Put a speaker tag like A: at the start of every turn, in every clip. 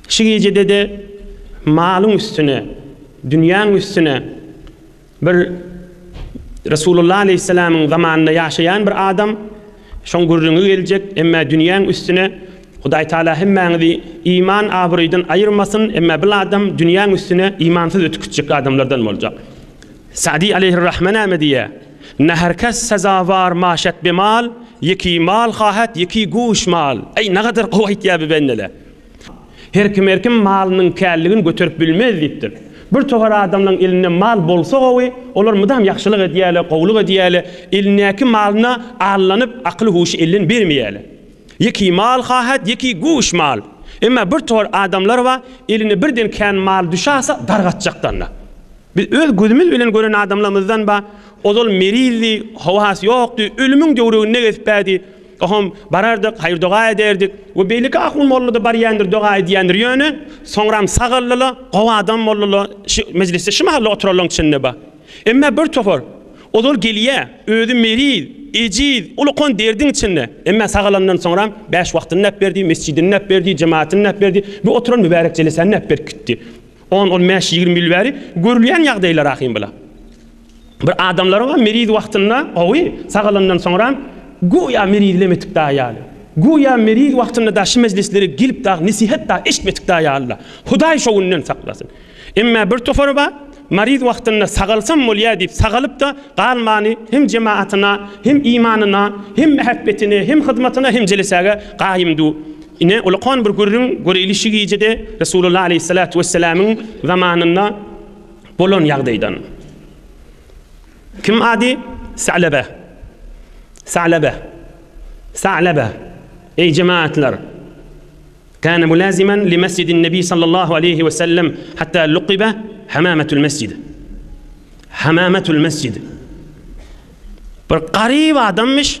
A: Şu gijede-de malyň üstüne, dünýäň üstüne bir Resulullah aleýhissalamyň zamanynda ýaşaýan bir adam şoň gürrüňi geljek, emmä dünýäň üstüne Hudaý Taala hemmäňizi iman abraýdan aýyrmasyn, emmä bil adam dünýäň üstüne imansyz ötüp gitjek adamlardan boljak. Sa'dy aleýhir-rahme näme diýýär? Ne her kes sezawar maşet bi mal, ýeki mal hahet, ýeki güş mal. Äý, nägadar gowy aýtýar bi bendele. Her kim her kim malynyň källigini göterip bilmez diýipdir. Bir togar adamlaryň elinde mal bolsa gowy, olar mydam ýagşylyk edýärler, gowulyk edýärler, elindäki malyna allanyp, akyl-huşy elden bermeýärler. Ýeki mal hahet, ýeki güş mal. Emma bir togar adamlar bar, eline birden kän mal düşäse, dargatjakdan-da. Biz öz gözümiz bilen gören adamlarymyzdan ba, ozal merizdi, howasy ýokdy, ölümiň döwreginde gezpädi. Ohom, barardyk, haýyr-doga ederdik. We beýleki ahun mollada barýandyr, doga edýändir. Ýöne, soňram sagaldyla, gowy adam boldyla, şi, mejlisde şi mahal-da oturanlaryň içinde ba. Emma bir topar, ozal gelýä, özi meriz, ejiz, ulukan derdiň içinde. Emma sagalandan soňram, bäş wagtyny näp berdi, mesjidini näp berdi, jematyny näp berdi, bu oturan mübärek jelesäni näp berip gitdi. On-on bäş-ýigrimi ýyl bäri görülýän ýagdaýlar ahym bula. Bir adamlaryňam meriz wagtynda gowy, sagalandan soňram göýä merizlem etip dagy ýaly. Göýä meriz wagtynda dagy şu mejlislere gelip dagy nesihat dagy eşitmedik dagy ýaly-la. Hudaý şo günden saklasyn. Emma bir topary bar, mariz wagtynda sagalsam bolýa diýip sagalyp-da galmany hem jemaatyna, hem imanyna, hem mähebbetine, hem hyzmatyna, hem jelesäge gaýym du. Ine, ulakan bir gürrüň, göreýli şu gijede Resulullah aleýhissalatu wesselamyň zamanynda bolan ýagdaýdan. Kim ady? Salaba. Salaba. Salaba. Eý jemagatlar! Kana mulaziman li mesjidin nebi sallallahu aleýhi we sellem hatta luqiba hamamatul mesjid. Hamamatul mesjid. Bir garyp adamyş.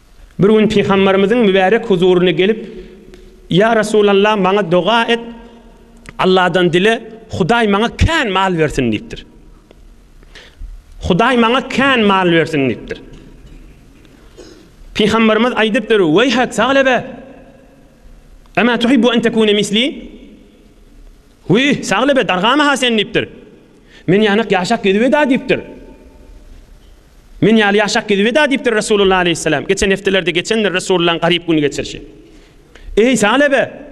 A: Bir gün Pygamberimiziň mübärek huzuryna gelip, Ýa Resulallah, maňa doga et, Allahdan dile, Hudaý maňa kän mal bersin diýipdir. Hudaý maňa kän mal bersin diýipdir. Pygamberimiz aýdypdyr, Weýhek, Saglebe! Emä tuhibbu en tekune misli? Wi, Saglebe, dargama ha sen diýipdir. Men ýanak ýaşak gezibeda diýipdir. Men ýaly ýaşak gezibeda diýipdir Resulullah aleýhissalam. Geçen hepdelerde geçendir Resulullaň garyp gün geçirişi. Eý, salebe!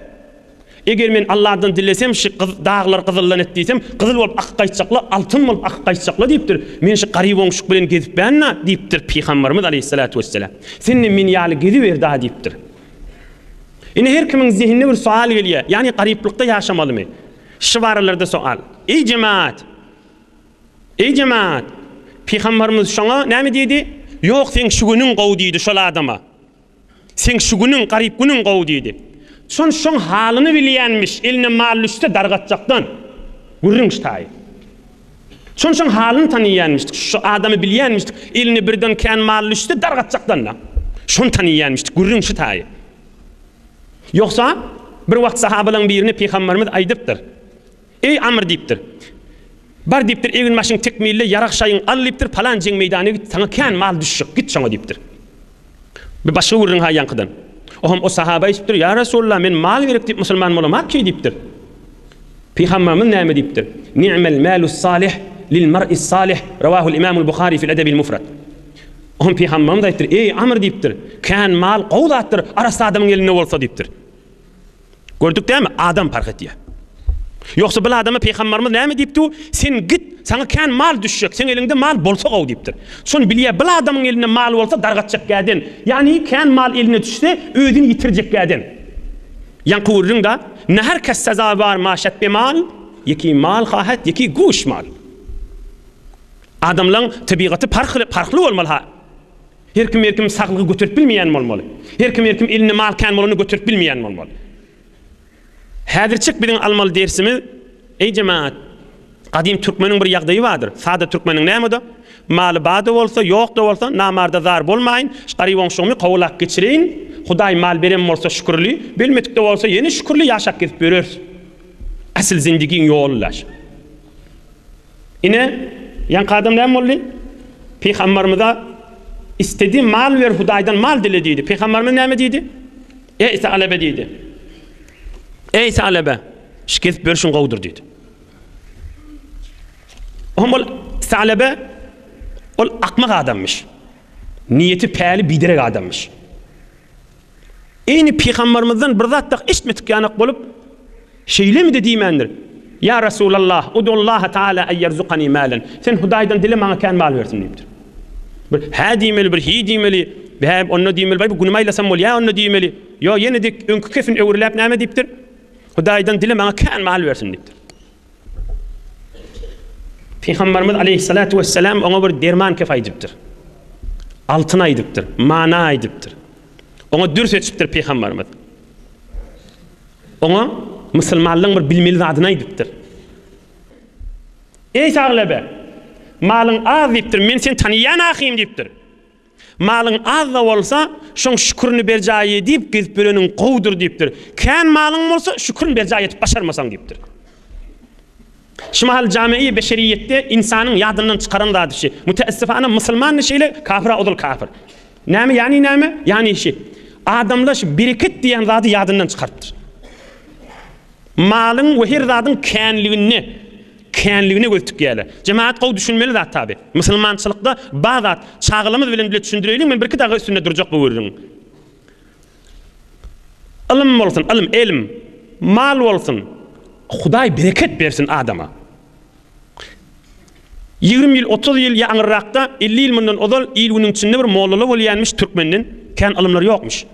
A: Eger men Allahdan dilesem, şy daglary gyzyldan et diýsem, gyzyl bolup akyp gaýtjakla, altyn bolup akyp gaýtjakla diýipdir. Men şy garyp oňuşyk bilen gezipbänna diýipdir Pygambarymyz aleýhissalatu wessalam. Sendem men ýaly geziberda diýipdir. Ine her kimiň zehinine bir soal gelýär. Ýani garyplykda ýaşamalymy? Şu baralrda soal. Eý jemaat! Eý jemaat! Pygambarymyz şoňa näme diýdi? Ýok, seň şu günüň gowy diýdi şol adama. Seň şu günüň, garyp günüň gowy diýdi. Şon şoň halyny bilýänmiş, eline mal düşse dargatjakdan gürrüňç taýy. Şon şoň halyny taniýänmiş, şu adamy bilýänmiş, eline birden kän mal düşse dargatjakdan-da. Şony taniýänmiş, gürrüňçi taýy. Ýogsa, bir wagt sahabalaryň birine pygamberimiz aýdypdyr. Eý, Amr diýipdir. Bar diýipdir, egin-başyňy tekmille, ýarag-şaýyňy al diýipdir, palan jeň meýdana git, saňa kän mal düşjek, git şoňa diýipdir. Bir başga gürrüň haýýankydan. Oňam o sahaba aýdypdyr, Ýa Resulallah, men mal gerek diýip musulman bolamarki diýipdir. Pygamberimiz näme diýipdir? Ni'mel malus salih lil mar'is salih, rawahul imamul Buhari fil edebil mufrat. Onuň pygamberimiz aýtdyr, Eý, Amr diýipdir, Kän mal gowy zatdyr, arassa adamyň elinde bolsa diýipdir. Gördük dämi, adam parh etýär. Ýogsa bil adama pygamberimiz näme diýipdi, Sen git, saňa kän mal düşjek, seň eliňde mal bolsa gowy diýipdir. Şony bilýär, bil adamyň elinde mal bolsa dargatjak gäden, ýagny kän mal eline düşse özüni ýitirjek gäden. Ýaňky gürrüňde, Ne her kes sezawar maşet be mal, ýeki mal hahet, ýeki güş mal. Adamlaň tebigaty parhly parhly bolmaly-ha. Her kim her kim saglygy göterip bilmeýän bolmaly. Her kim her kim elinde mal kän bolany göterip bilmeýän bolmaly. Häzirçik biziň almaly dersimiz, eý jemagat, gadym türkmeniň bir ýagdaýy bardyr, sada türkmeniň näme-de, maly bar-da bolsa, ýok-da bolsa, namar-da zar bolmaýyn, garyboňşugymy kowalap geçireýin, Hudaý mal beren bolsa şükürli, belmedik-de bolsa ýene şükürli ýaşap gezip ýöreris. Asyl zendigiň ýoly daş. Ine, ýaňky adam näme boldy? Pygambarymyza, Istediň mal ber, Hudaýdan mal dile diýdi. Pygambarymyz näme diýdi? Eý, Salebe diýdi. Eý, Salebe, şikes berşiň gowudyr diýdi. Oňa ol Salebe ol akmak adamyş. Niýeti päli biderek adamyş. Eýni pygambarymyzdan bir zat dagy eşitmedik ýanak bolup, Şeýlemi-de diýmändir. Ýa Resulallah, udullaha taala en ýerzukani mälen. Sen Hudaýdan dile maňa kän mal bersin diýipdir. Bir hä diýmeli, bir hiý diýmeli, bä onda diýmeli, baý bu günümi aýlasam bolýa onda diýmeli. Ýo ýene-de öňki kepin öwrüläp näme diýipdir? Hudaýdan dile maňa kän mal bersin diýipdir. Pygamberimiz aleyhissalatu vesselam oňa bir derman kef aýdypdyr. Altyn aýdypdyr, mana aýdypdyr. Oňa dür seçipdir Pygamberimiz. Oňa musulmanlygyň bir bilmeli zadyny aýdypdyr. Ey Saglebe, malyň az diýipdir, men seni taniýan ahym diýipdir. Malyň az-da bolsa, şoň şükürini berjaý edip gezip ýöreniň gowudyr diýipdir. Kän malyň bolsa, şükürini berjaý edip başarmasaň diýipdir. Şu mahal jame-i beşeriýetde ynsanyň ýadyndan çykaran zady şi. Müteessifana musulman-da şeýle, kafir-a ozal kafir. Näme, ýany näme? Ýany şi. Adamlar şu bereket diýen zady ýadyndan çykarypdyr. Malyň we her zadyň känliginde. känligine göz tikýärler. Jemagat gowy düşünmeli zat tabi. Musulmançylykda bar zat. Çagalarymyz bilen bile düşündireýliň men birki dagy üstünde durjak bu gürrüň. Ylym bolsun, ylym, elm, mal bolsun. Hudaý bereket bersin adama. Ýigrimi ýyl, otuz ýyl ýa aňyrrakda, elli ýyl mundan ozal il-günüň içinde bir mollala bolýanmyş türkmenden kän ylymlar ýokmyş.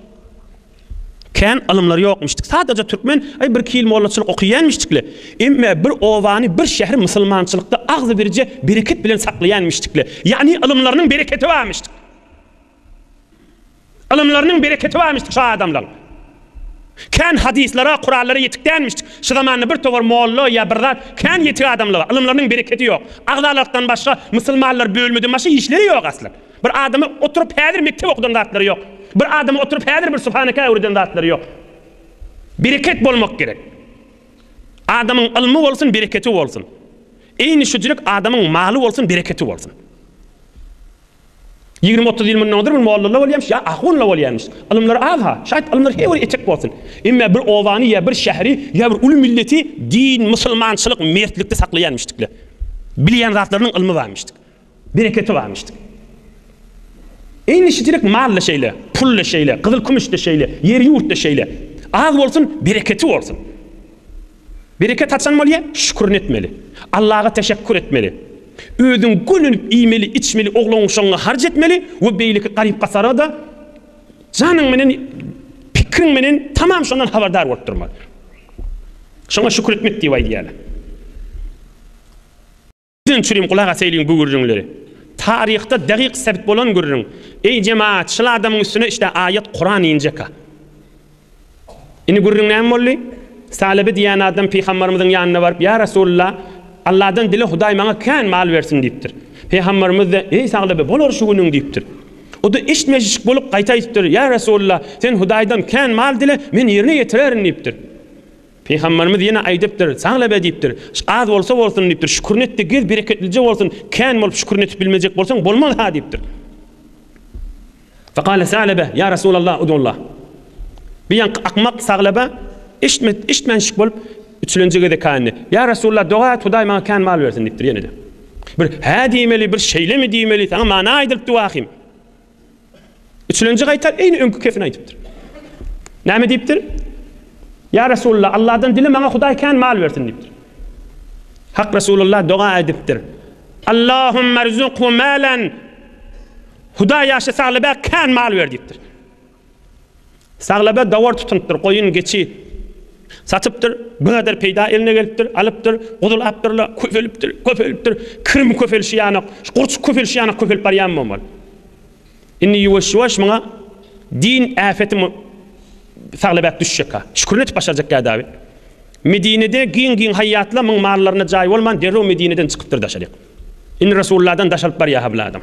A: Kän ylymlar ýokmuşdyk. Sadaja türkmen aý bir-iki ýyl mollaçylyk okaýanmişdikle. Emme bir obany, bir şäheri musulmançylykda agzybirje bereket bilen saklaýanmişdikle. Ýagny ylymlarynyň bereketi barmyşdyk. Ylymlarynyň bereketi barmyşdyk şo adamlaň. Kän hadyslara, kuranlara ýetik dälmişdik. Şu zamanda bir towar molla ýa bir zat kän ýetik adamlar bar. Ylymlarynyň bereketi ýok. Agzalykdan başga musulmanlar bölmeden başga işleri ýok aslan. Bir adama oturyp häzir mekdep okudan zatlary ýok. Bir adama oturyp häzir bir subhaneke öwreden zatlary ýok. Bereket bolmak gerek. Adamyň ylmy bolsun, bereketi bolsun. Eýni şujilik adamyň maly bolsun, bereketi bolsun. Ýigrimi otuz ýyl mundan ozal bir mollala bolýamyş ýa ahunla bolýamyş. Ylymlar az-ha. Şaýt ylymlar her biri etek bolsun. Emma bir obany ýa bir şäheri ýa bir uly milleti din, musulmançylyk, mertlikde saklaýarmyşdykla. Bilýän zatlarynyň ylmy barmyşdyk. Bereketi bar işdiň. Eýleşijilik mal-da şeýle, pul-da şeýle, gyzyl-kümüş-de şeýle, ýer-ýurt-da şeýle. Az bolsun, bereketi bolsun. Bereket haçan bolýar? Şükürini etmeli. Allaga teşekkur etmeli. Özüň gönenip iýmeli, içmeli, oglan-uşagyňa harç etmeli we beýleki garyp-gasara-da janyň menen, pikiriň menen tamam şondan habardar bolup durmaly. Şoňa şükür etmek diýip aýdýarlar. Diňe çürim gulak asaýlyň bu gürrüňleri. Taryhda dagyk sebit bolan gürrüň. Eý jemaat, şyl adamyň üstüne işte aýat Kuran injeka. Indi gürrüň näme boldy? Salebi diýen adam Pygambarymyzyň ýanyna baryp, ýa Resulullah, Allahdan dile Hudaý maňa kän mal bersin diýipdir. Pygambarymyz da, eý Saglabi, bolar şu günüň diýipdir. O da eşitmejişik bolup gaýta aýdypdyr, ýa Resulullah, sen Hudaýdan kän mal dile, men ýerine ýetirerin diýipdir. Pygamberimiz ýene aýdypdyr, Sagla be diýipdir. Az bolsa bolsun diýipdir. Şükürini etde gez bereketlije bolsun. Kän bolup şükürini etip bilmejek bolsaň bolmaz ha diýipdir. Fekale Salebe, ýa Resulallah udullah. Bir ýanky akmak Saglaba eşitmet, eşitmänşik bolup üçlenji gezek känni. Ýa Resulallah doga et Hudaý maňa kän mal bersin diýipdir ýene-de. Bir hä diýmeli, bir şeýlemi diýmeli, saňa mana aýdylypdy wahym. Üçlenji gaýta eýni öňki kepini aýdypdyr. Näme diýipdir? Ýa Resulullah, Allahdan dile maňa Hudaý kän mal bersin diýipdir. Hak Resulullah doga aýdypdyr. Allahumma rzuqhu malan. Hudaý ýaşy saglyba kän mal ber diýipdir. Saglaba gawar tutunypdyr, goýun, geçi satypdyr, biňader peýda eline gelipdir, alypdyr, guzul apdyr-la, köpelipdir, köpelipdir, kirim köpelişi ýanok, şu gurçuk köpelişi ýanok köpelip barýanmy omal? Indi ýuwaş-ýuwaş muňa din äpeti Saglabäk düşjek-ä. Şükür etip başarjak gädawy. Medinede giň-giň haýýatla muň mallaryna jaý bolman, derrew Medineden çykypdyr daşaryk. Indi Resulladan daşalyp barýa-ha bul adam.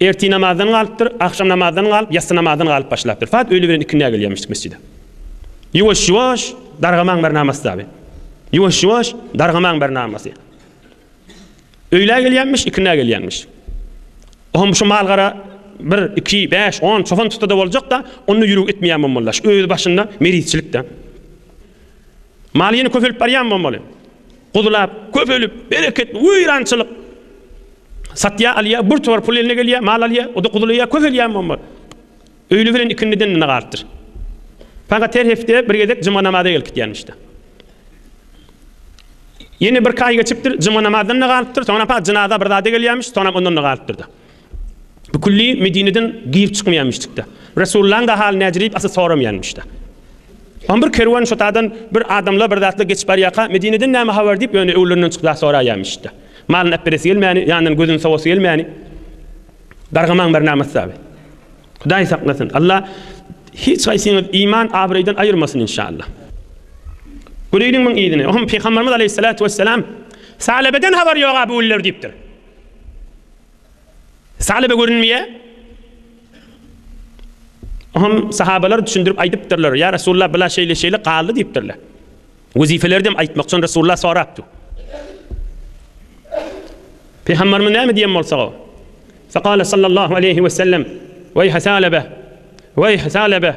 A: Ertir namazdan galypdyr, agşam namazdan galyp, ýassy namazdan galyp başlapdyr. Sagat öýle bilen ikindä gelýärmişdik mesjide. Ýuwaş-ýuwaş dargamaň bir namasy abi. Ýuwaş-ýuwaş dargamaň bir namasy. Öýlä gelýärmiş, ikindä gelýärmiş. Oňa şu malgara 1, 2, 5, 10 çopan tutsa-da boljak-da, onda ýüregi etmeýär mollaş. Özi başynda merizçilik-de. Mal ýene köpelip barýan bolmaly. Guzulap, köpelip, bereketli, weýrançylyk. Satýa, alýa, bir tuwar pul eline gelýä, mal alýa, o-da guzulaýa, köpelýän bolmaly. Öýli bilen ikindiden nag artdyr. Fakat her hepde bir gezek juma namaza gelip gitýänmişde. Ýene birki aý geçipdir, juma namazdan nag alypdyr, soňra fakat jynaza bir zada gelýämiş, soňra ondan nag alypdyr-da. Bu külli Medineden girip çykmaýanmyşdykda. Resullaň da haly näjirip asy soramaýanmyşda. Am bir kerwen şotadan bir adamla bir zatla geçip barýaka Medineden näme habar diýip ýöne öwlerinden çykyp zat soraýanmyşda. Malyny äpberesi gelmäni, ýanyndan gözüni sowasy gelmäni. Gargamaň bir namat saby. Hudaý saklasyn. Allah hiç haýsyňyz iman abraýdan aýyrmasyn inşallah. Göreýliň muň yzyny. Ohm Pygamberimiz Aleyhissalatu Vesselam Salebeden habar ýoga bu güller diýipdir. Salebe görünmeýär. Oňam sahabalar düşündirip aýdypdyrlar. Ýa Resulullah bula şeýle şeýle galdy diýipdirler. Wezifeleri dem aýtmak üçin Resulullah sorapdy. Pygamberimiz näme diýen bolsa o. Faqala sallallahu aleyhi we sellem Weýh salebe Weýh salebe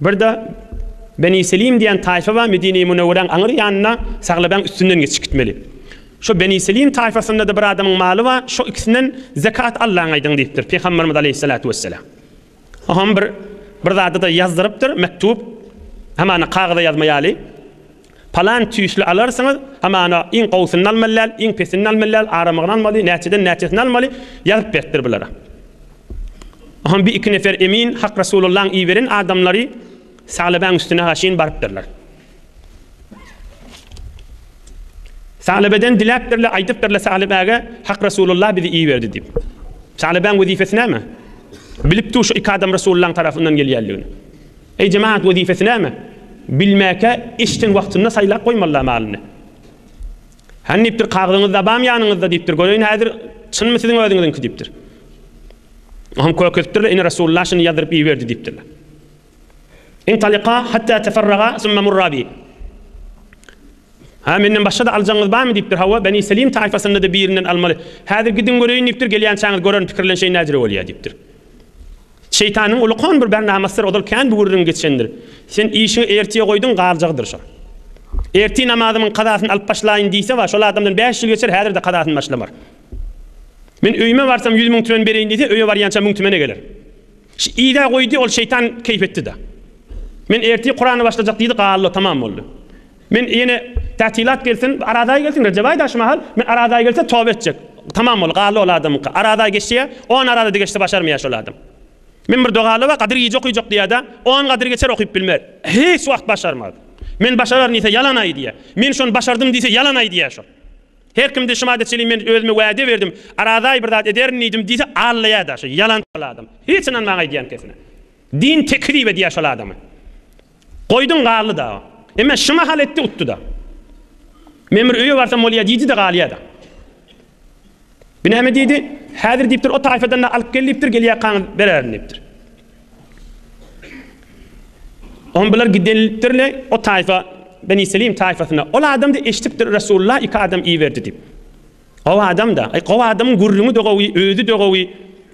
A: Birde Beni Selim diýen taýfa bar, Medine-i Münewweräň aňyr ýanynda Saglabaň üstünden geçip gitmeli. Şo Beni Selim taýfasynda-da bir adamyň maly bar, şo ikisinden zekat allaňaýdyň diýipdir Pygamberimiz aleýhissalatu wesselam. Oňam bir bir zady-da ýazdyrypdyr, mektup, hamana kagyza ýazma ýaly. Palan tüýsli alarsyňyz, hamana iň gowusyny almaly däl, iň pesini almaly däl, aramagyny almaly, näçeden näçesini almaly, ýazyp beripdir bulara. Oňam bir-iki nefer emin, Hak Resulullahyň iberen adamlary Saglabäň üstüne-ha şin barypdyrlar. Saglabeden diläpdirler, aýdypdyrlar Saglabäge, Hak Resulullah bizi iberdi diýip. Saglabäň wezipesi näme? Bilipdi şu iki adam Resulullahyň tarapyndan gelýändigini. Eý jemagat wezipesi näme? Bilmäkä işden wagtynda saýlap goýmalyda malyny. Hany diýipdir kagyzyňyz dabam ýanyňyzda diýipdir göreýin häzir çynmy siziň özüňiziňki diýipdir. Oňam körkezipdirler ine Resulullah şuny ýazdyryp iberdi diýipdirler. Intaliqa hatta teferraga summa murra bi. Ha menden başga-da aljagyňyz barmy diýipdir. Hawa Beni Selim taýfasynda-da birinden almaly. Häzir gidiň göreýin diýipdir. Gelýänçäňiz görerin pikirlenşeýin näjere bolýar diýipdir. Şeýtanyň ulukan bir bernamasydyr ozal kän bu gürrüň geçendir. Sen işiňi ertiýe goýduň galjagydyr şo. Ertir namazymyň kazasyny alyp başlaýyn diýse bar, şol adamdan bäş ýyl geçer häzirde kazasyny başlamar. Men öýüme barsam ýüz müň tümen bereýin diýse öýe barýança müň tümene geler. Şi idä goýdy ol şeýtan keýp etdida. Men ertir kurany başlajak diýdi galdy tamam boldy. Men ýene Tätilat gelsin, Arazaý gelsin, Rejebaý daşy mahal, men Arazaý gelse toba etjek. Tamam boldy, galdy ol adamyňky. Arazaý geçýä, on Arazaý geçse başarmaýa şol adam. Men bir doga alyba Gadyr gije okuyjak diýädä, on Gadyr geçer okyp bilmez. Hiç wagt başarmaz. Men başararyn diýse ýalan aýdýa. Men şony başardym diýse ýalan aýdýa şol. Her kimde şu madde çenli men özüme wäde berdim, Arazaý bir zat ederin diýdim diýse allaýa daşy. Ýalançy şol adam. Hiç ynanmaň aýdýan kesine. Din tekzip edýä şol adamy. Goýdum galdy dagy. Emme şu mahal etdi utdy-da. Men bir öýe barsam bolýa diýdi-de galýa-da. Bir näme diýdi, häzir diýipdir o taýfadan-da alyp gel diýipdir, gelýäkaňyz bererin diýipdir. Oňa bular gidenlikdirler o taýfa Beni Selim taýfasyna. Ol adam-da eşidipdir Resulullah iki adam iberdi diýip. Gowy adam-da. Aý, gowy adamyň gürrüňi-de gowy, özi-de gowy.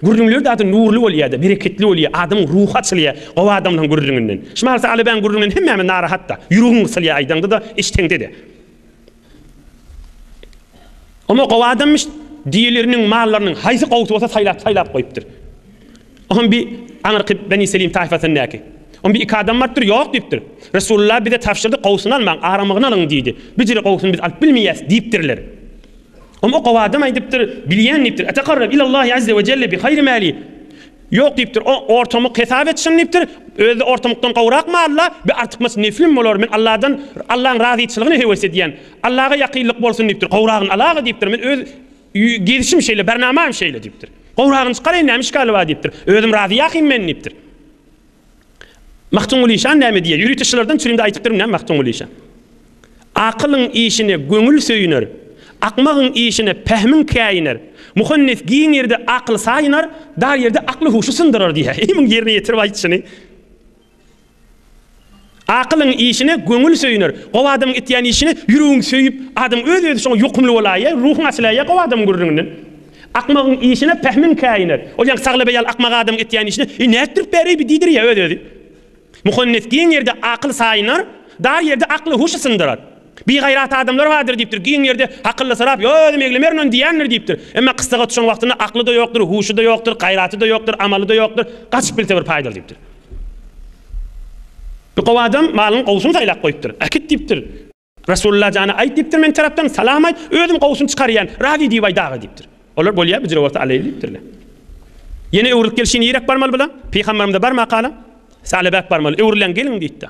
A: Gürrüňleri zady nurly bolýar-da, bereketli bolýar, adamyň ruhy açylýar gowy adamlaryň gürrüňinden. Şu Marsy Alybäň gürrüňinden hemmämiz narahat-da. Ýüregiň gysylýar aýdaňda-da, eşdeňde-de. Oňa gowy adamyş diýileriniň mallarynyň haýsy gowusy bolsa saýlap-saýlap goýupdyr. Oňam bir aňyrky Beni Selim taýfasyndaky. Oňam bir-iki adam barypdyr, ýok diýipdir. Resulullah bize tabşyrdy, gowusyny almaň, aramagyny alyň diýdi. Bijire gowusyny biz alyp bilmeýäs diýipdirler. Oňam o gowy adam aýdypdyr, Bilýän diýipdir, Etekarreb ilallahi azze we jelle bi haýri mali. Ýok diýipdir, o ortamyk hesap etsin diýipdir, Özi-de ortamykdan gowrak malla, bir artykmaç neflim bolar, men Allahdan, Allahyň razyçylygyny höwes edýän. Allaha ýakynlyk bolsun diýipdir, gowragyny alag-a diýipdir, men öz Gezişim şeýle, bernamam şeýle diýipdir. Gowragyny çykaraýyn, näme işgali bar diýipdir. Özüm razy ýakyn men diýipdir. Magtymguly şan näme diýýär? Ýörüteşilerden çürimde aýdypdyryn näme Magtymguly şan? Akylyň işine göňül söýüner, akmagyň işine pähmiň käýiner. Muhannes giň ýerde akyly saýynar, dar ýerde akly-huşy syndyrar diýýär. Eý, muny ýerine ýetirip aýt şuny. Akylyň işine göňül söýüner. Gowy adamyň etýän işine ýüregiň söýüp, adam öz-özi şoňa ýokumly bolaýýar, ruhuň açylaýýar gowy adamyň gürrüňinden. Akmagyň işine pähmiň käýiner. Ol ýaňky Saglabeý ýaly akmak adamyň etýän işine, Eý, nätdirip bäreý bi diýdirýär öz-özi. Muhannes giň ýerde akyl saýynar, dar ýerde akly-huşy syndyrar. Bigaýrat adamlar bardyr diýipdir. Giň ýerde hakyllysyrap, Ýok, özüm eglemerin-ony diýýändir diýipdir. Emma kyssaga tutuşan wagtynda akly-da ýokdur, huşy-da ýokdur, gaýraty-da ýokdur, amaly-da ýokdur. Gaçyp bilse bir paýdaly diýipdir. Bir gowy adam malynyň gowusyny saýlap goýupdyr. Äkit diýipdir. Resulalla jana aýt diýipdir, men tarapdan salam aýt, özüm gowusyny çykarýan, razy diýip aýt aga diýipdir. Olar bolýa bujra bolsa aleý diýipdirler. Ýene öwrülip gelşi nirek barmaly bula? Pygamberimize barma kala, Salebäk barmaly. Öwrüläň geliň diýipdir.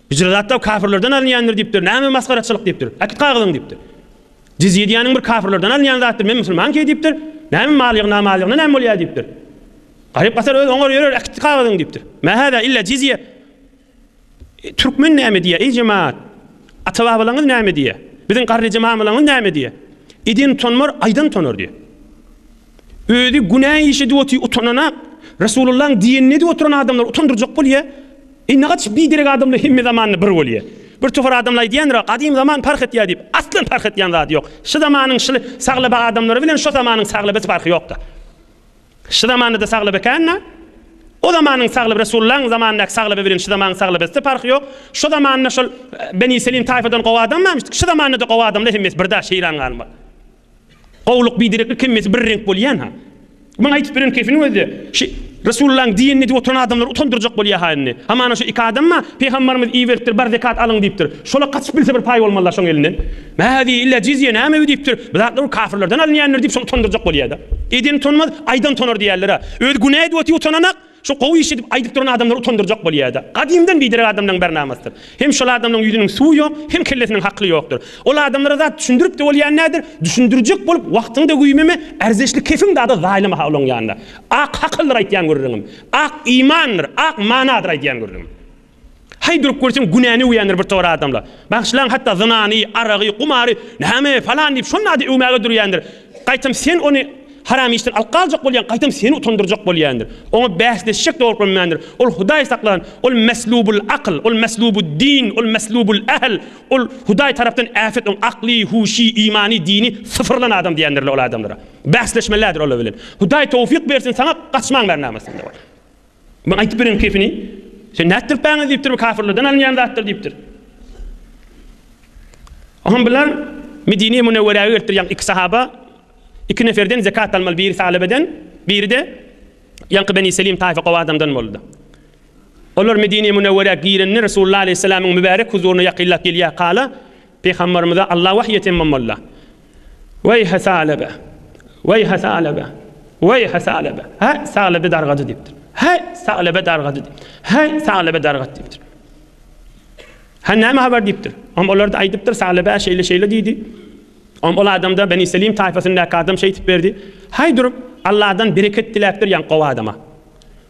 A: Hijr zatda kafirlerden alynýandyr diýipdir. Näme masgaraçylyk diýipdir. Äkit kagyzyň diýipdir. Jizýe diýýäniň bir kafirlerden alynýan zatdyr. Men musulman ki diýipdir. Näme mal ýygna mal ýygna näme bolýar diýipdir. Garyp gasar öz oňar ýörer äkit kagyzyň diýipdir. Mä hada illa jizýe. Türkmen näme diýýär eý jemaat. Ata babalaňyz näme diýýär. Biziň garryja mamalaňyz näme diýýär. Eden utanmar aýdan utanar diýýär. Özi günä iş edip otyr utananak Resulullaň diýenini edip oturan adamlar utandyrjak bolýa. Eý nagaç biderek adamlar hemme zamanda bir bolýa. Bir topar adamlar aýdýandyr gadym zaman parh etýa diýip aslan parh etýan zady ýok. Şu zamanyň şyly saglaba adamlary bilen şo zamanyň saglabesi parhy ýokda. Şu zamandada saglaba kända o zamanyň saglaba Resulullaň zamandaky saglaba bilen şu zamanyň saglabeside parhy ýok. Şo zamanda şol Beni Selim taýfadan gowy adam barmyşdyk. Şu zamandada gowy adamlar hemmesi birda şeýran galma. Gowluk bidereklik hemmesi bir reňk bolýan-ha. Muny aýdyp beren kefiniň özi-de şi Resulullahyň diýenini edip oturan adamlary utandyrjak bolýa-ha indi. Hamana şu iki adam-a Pygambarymyz iberipdir, bar zekat alyň diýipdir. Şola gaçyp bilse bir paý bolmazlar şoň elinden. Mä-hä diý, illa jizýe nämewi diýipdir. Bu zatlar ol kafirlerden alynýandyr diýip şol utandyrjak bolýa-da. Eden utanmaz, aýdan utanar diýýärler-a. Özi günä edip otyr utananak. Şu gowy iş edip aýdyp duran adamlary utandyrjak bolýada. Gadymdan biderek adamlaň bäri namastyr. Hem şol adamlaň ýüzüniň suwy ýok, hem kellesiniň hakly ýokdyr. Ol adamlara zat düşündiripde bolýan nädir, düşündirjek bolup wagtyňda güýmeme, ärzeşli kefiň zada zaýlamaha olaň ýanynda. Ak hakaldyr aýtýan gürrüňim. Ak imandyr, ak manadyr aýdýan gürrüňim. Haý durup görseň günäni öwýändir bir towar adamlar. Bagyşlaň hatda zynany, aragy, gumary, näme falan diýip şol nady öwmäge durýandyr. Gaýtam sen ony haram işden alyp galjak bolýan, gaýtam seni utandyrjak bolýandyr. Oňa bäsleşjek dogry görmändir. Ol Hudaý saklan, ol meslubul akyl, ol meslubud din, ol meslubul ähl, ol Hudaý tarapdan äpet oň akly, huşy, imany, dini syfyrlan adam diýendirler ol adamlara. Bäsleşmelidir olar bilen. Hudaý towfyk bersin saňa gaçmaň bärnamazsyňda. Maňa aýtyp beriň kefini. Sen nätdirip baňyz diýipdir, bu kafirlerden alynýan zatdyr diýipdir. Oňam bular Medine-i Münewwerä gelipdir, ýaňky iki sahaba, iki neferden zekat almaly, biri Salybeden, biri-de ýaňky Beni Selim taýfa gowy adamdan boldy. Olar Medine-i Münewwerä girende Resulullah aleýhissalamyň mübärek huzuryna ýakynlap gelýär, kala, Pygamberimize Allah wahy eten Momalla. Weýhe Salebe! Weýhe Salebe! Weýhe Salebe! Häý, Salebe dargady diýipdir. Häý, Salebe dargady diýip. Häý, Salebe dargat diýipdir. Hä, näme habar diýipdir. Om olarda aýdypdyr, Salebe şeýle-şeýle diýdi. Om ol adamda Beni Selim taýfasyndaky adam şeýtip berdi. Häý durup, Allahdan bereket diläpdir ýaň gowy adama.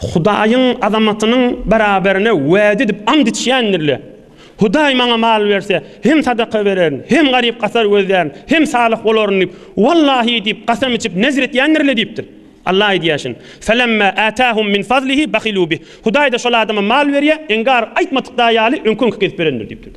A: Hudaýyň azamatynyň beraberine wada edip ant içýändir-le, Hudaý maňa mal berse, hem sadaka bererin, hem garyp-gasar gözlärin, hem salyh bolaryn diýip, Wallahy diýip, kasam içip, nezir etýändir-le diýipdir. Allah aýdýaşyn, Felemma atahum min fazlihi bahilu bih. Hudaý-da şol adama mal berýär, inkar aýtmadykda ýaly öňki-öňki gezip berendir diýipdir.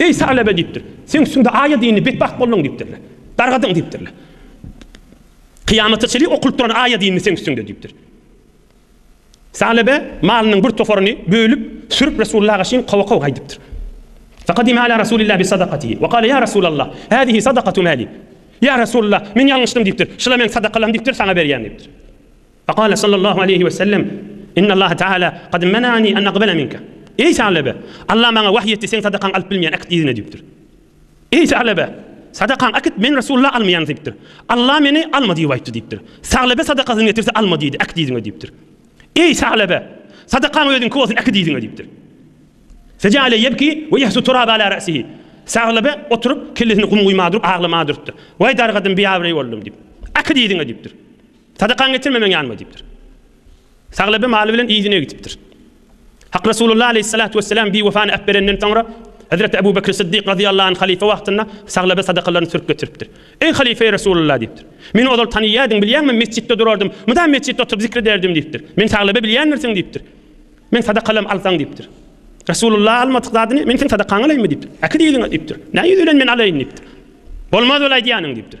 A: Eý, Salebe! diýipdir. Seň üstüňde aýa dini, betbagt bolduň diýipdirler. Dargadyň diýipdirler. Kyýamata çenli okulyp duran aýa dini seň üstüňde diýipdir. Salebe malynyň bir toparyny bölüp, sürüp Resulullah agaşyn kowa-kow gaýdypdyr. Faqadima ala Resulillah bi sadakatihi we kale ýa Resulallah, hadihi sadakatu mali. Ýa Resulullah, men ýalňyşdym diýipdir. Şula meň sadakalarym diýipdir, saňa berýän diýipdir. Fekale sallallahu aleýhi we sellem, Innallaha teâlâ kad menâni en akbele minke. Eý Salebe! Allah maňa wahyý etdi, seň sadakaňy alyp bilmeýän äkit yzyna diýipdir. Eý Salebe! Sadakaň äkit men Resulla almaýan diýipdir. Allah meni alma diýip aýtdy diýipdir. Salebe sadakasyny getirse alma diýdi, äkit yzyňa diýipdir. Eý Salebe! Sadakaň özüňki bolsun, äkit yzyňa diýipdir. Fejaale yebki we yahsu turaba ala ra'sihi. Salebe oturyp kellesini gum guýma durup aglama durupdyr. Waý dargadym, biabraý boldum diýip. Äkit yzyňa diýipdir. Sadakaňy getirme meň ýanyma diýipdir. Saglaby maly bilen yzyna gidipdir. Hak Resulullah aleýhissalatu wesselam biwefany äpberenden soňra Hezreti Ebu Bekr Siddik razyýallahu anh halyfa wagtynda Saglaba sadakalaryny sürüp getiripdir. Eý halyfa-eý Resulullah diýipdir. Meni ozal tanyýardyň bilýäň men mesjitde durardym. Mydam mesjitde oturyp zikr ederdim diýipdir. Men Saglaba bilýändirsiň diýipdir. Meň sadakalam alsaň diýipdir. Resulullah almadyk zadyny men seň sadakaňy alaýynmy diýipdir. Äkidi yzyňa diýipdir. Näme ýüz bilen men alaýyn diýipdir. Bolmaz bol aýdýanyň diýipdir.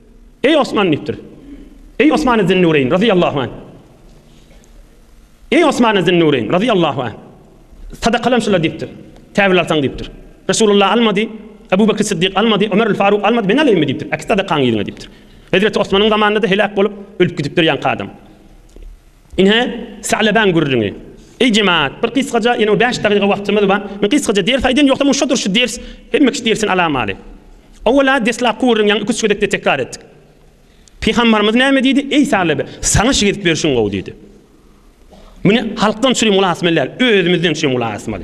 A: Eý Osman diýipdir. Eý Osman Zinnureýn razyýallahu anh. Eý Osman Zinnureýn razyýallahu anh. Sadakalam şular diýipdir. Käbir alsaň diýipdir. Resulullah almady, Abu Bakr Siddik almady, Ömer Faruk almady, men alaýynmy diýipdir. Äkit sadakaňy ýygyň diýipdir. Hezreti Osmanyň zamanynda-da heläk bolup, ölüp gidipdir ýaňky adam. Ine, Salebäň gürrüňi. Eý jemaat, bir gysgaja, ýene bäş dagyga wagtymyz bar. Men gysgaja ders aýdyn, ýogsa muň şodur şu ders, hemme kişi dersini alamaly. Owwala deslapky gürrüňi ýaňy iki-üç gezek-de tekrar etdik. Pygambarymyz näme diýdi? Eý Salebe, saňa şigirtlik berşiň gowy diýdi. Muny halkdan çüri mulat etmeliär, özümizden çüri mulat etmeli.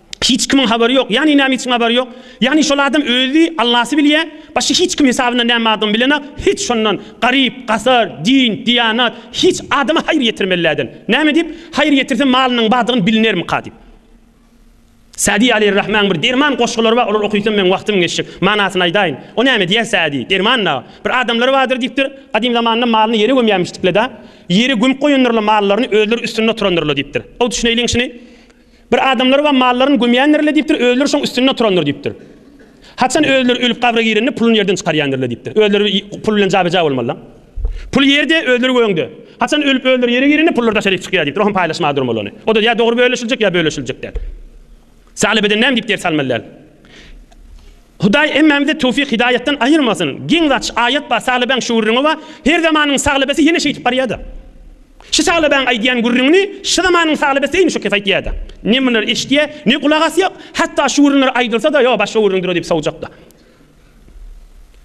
A: Hiç kimiň habary ýok. Ýagny näme üçin habary ýok? Ýagny şol adam özi, Allasy bilýä, başga hiç kim hysabyna näme bardygyny bilenak, hiç şondan, garyp, gasar, din, diýanat, hiç adama haýyr ýetirmelläden. Näme diýip, haýyr ýetirse malynyň bardygyny bilinermika diýip. Sa'di aleýhir rahmaň bir derman goşgulary bar, olary okysam meň wagtym geçjek. Manasyny aýdaýyn. O näme diýer Sa'di, derman dagy. Bir adamlary bardyr diýipdir, gadym zamanda malyny ýere gömýärmişdikle-dä. Ýere gömüp goýandyrlar mallaryny, özleri üstünde oturandyrlar diýipdir. Gowy düşüneýliň şuny. Bir adamlary bar mallaryny gömýändirler diýipdir, özleri şoň üstünde oturandyr diýipdir. Haçan özleri ölüp gabra girende puluny ýerden çykarýandirler diýipdir. Özleri pul bilen jabeja bolmalylar. Pul ýerde, özleri göňde. Haçan ölüp özleri ýere girende pullar daşaryk çykýar diýipdir. Oňam paýlaşmaga durmaly ony. O-da ýa dogry bölüşiljek, ýa bölüşiljek däl. Salybeden näme diýip ders almaly däl. Hudaý hemmämizi towfik hidaýatdan aýyrmasyn. Giň zaç aýat bar Saglybaň şu gürrüňi bar, her zamanyň saglabesi ýene şeýdip barýada. Şu saglybaň aýdýan gürrüňini şu zamanyň saglabesi eýni şu kes aýtýada. Ne munular eşitýä, ne gulak asýa, hatda şu gürrüňler aýdylsada ýo başga gürrüňdir-o diýip sowjakda.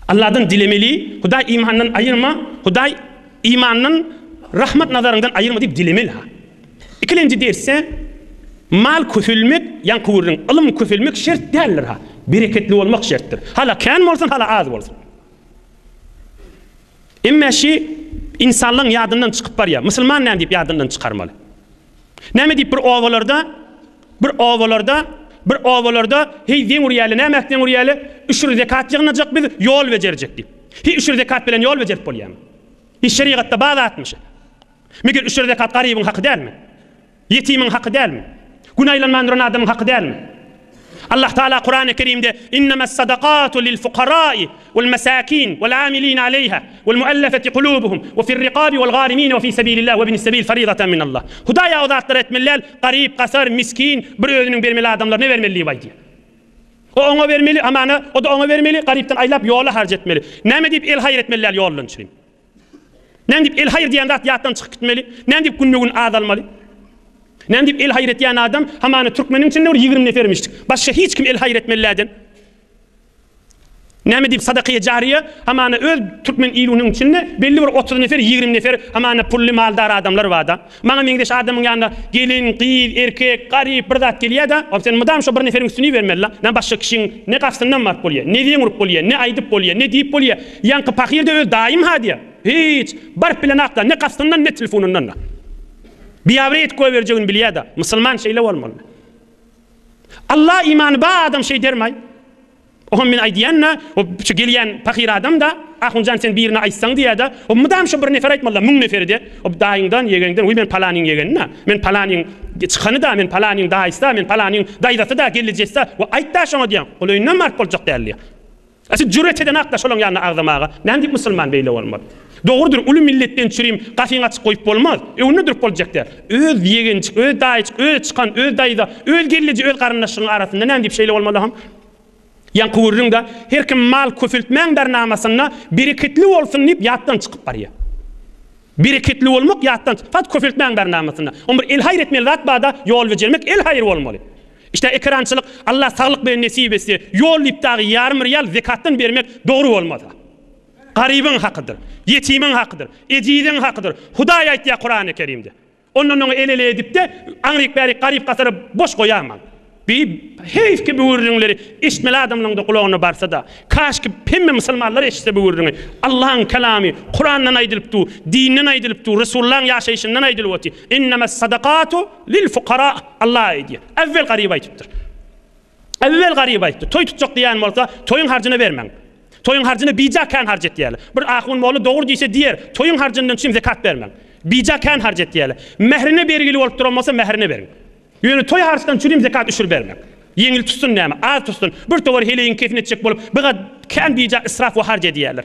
A: Allahdan dilemeli, Hudaý imandan aýyrma, Hudaý imandan rahmat nazaryňdan aýyrma diýip dilemeli-ha. Ikilenji dersde Mal köselmek, ýaňky gürrüň, Ylym köselmek şert däldir-ha, bereketli bolmak şertdir. Hala kän bolsun, hala az bolsun. Emma şi insanlaň ýadyndan çykyp barýa, musulman näme diýip ýadyndan çykarmaly? Näme diýip bir obalarda, bir obalarda, bir obalarda heý zeň urýaly, nämäk zeň urýaly, üşür zekat ýygnajak biz, ýol bejerjek diýip. Hi üşür zekat bilen ýol bejerip bolýamy? Hi şerigatda bar zatmy şi? Meger üçer zekat garybyň haky dälmi? Ýetimiň haky dälmi? Gün aýlanman duran adamyň haky dälmi? Allah Tagala Kurany Kerimde, Innemessadakatu lilfukarai welmesakin welamilina aleýha welmuellefeti kulubuhum wefirrikabi welgarimine wefi sebilillah webnissebil faridaten minallah, Hudaý aw zatlar etmeli däl, garyp, gasar, miskin, bir özüniň bermeli adamlaryna bermeli diýip aýdýar. O oňa bermeli, amana, o-da oňa bermeli, garypdan aýlap, ýola harç etmeli. Näme diýip el haýyr etmeli däl ýollançyny? Nädip el-haýyr diýen zat ýatdan çykyp gitmeli? Nädip günbe-gün azalmaly? Nädip el-haýyr etýän adam, hamana türkmeniň içinde bir ýigrimi nefermişdik. Başga hiç kim el-haýyr etmeliläden. Näme diýip sadakaýy jariýe, hamana öz türkmen iluniň içinde belli bir otuz nefer, ýigrimi nefer, hamana pully, maldar adamlar barda. Maňa meňzeş adamyň ýanyna gelin, gyz, erkek, garyp bir zat gelýä-de, ol sen mydam şo bir neferiň üstüni ibermeli-la. Näme başga kişiň ne gapysyndan baryp bolýa, ne zeň urup bolýa, ne aýdyp bolýa, ne diýip bolýa. Ýaňky pahyr-da öz daýym-ha diýä. Hiç. Baryp bilenok-la, ne gapysyndan, ne telefonyndan-da. Biabraý edip goýberjegini bilýä-de. Musulman şeýle bolmaly. Alla imany bar adam şeýdermaý. Oňa men aýdýan-da, o şu gelýän pahyr adam-da, Ahunjan sen birine aýtsaň diýýä-de, o mydam şo bir nefer aýtmaly-da, müň neferi-de, o daýyňdan, ýegeňden, Wiý, men palanyň ýegeni-da, men palanyň çykany-da, men palanyň daýysy-da, men palanyň daýzasy-da, gelnejesi-da, wiý, aýt-da şoňa diýýän. Ol öýünden baryp boljak däl diýýä. A sen jüret edeňak-da şolaň ýanyna agzamaga. Näme diýip musulman beýle bolmaz? Dogrudyr, uly milletden çürim gapyňy açyk goýup bolmaz. Öňünde durup boljak däl. Öz ýegenjik, öz daýyjyk, öz çykan, öz daýza, öz gelneje, öz garyndaşyňyň arasynda näme diýip şeýle bolmaly-ha? Ýaňky gürrüňde her kim mal köpeltmäň bernamasynda bereketli bolsun diýip ýatdan çykyp barýar. Bereketli bolmak ýatdan çyk, fakt köpeltmäň bernamasynda. Oň bir el haýyr etmeli zat barda ýol bejermek el haýyr bolmaly. Işde ekerançylyk Allah saglyk bilen nesip etse, ýol diýip dagy ýarym riýal zekatdan bermek dogry bolmasa. Garybyň hakydyr. Ýetimiň hakydyr. Ejiziň hakydyr. Hudaý aýtýar Kurany Kerimde. Ondan oňa el-ele edip-de, aňryk-bärik garyp-gasary boş goýaýmaň. Bi heýf ki bu gürrüňleri eşitmeli adamlaryň-da gulagyna barsa-da. Kaşki hemme musulmanlar eşitse bu gürrüňi. Allahyň Kalamy, Kurandan aýdylypdu, dinden aýdylypdu, Resulullahyň ýaşaýşyndan aýdylypty. Innemes sadakatu lil fukara. Allah aýdýar. Äwwel garyba aýdypdyr. Äwel Garyp aýtdy, toý tutjak diýýän bolsa, toýuň harjyny bermäň. Toýuň harjyny bija kän harç etýärler. Bir ahun molla dogry diýse diýer, toýuň harjyndan çyn zekat bermäň. Bija kän harç etýärler. Mährine bergili bolup duran bolsa, mährine beriň. Ýöne toý harçdan çürim zekat üşür bermäň. Ýeňil tutsun näme, az tutsun, birtowar heleýiň kefini etjek bolup, bigat kän bija israf we harç edýärler.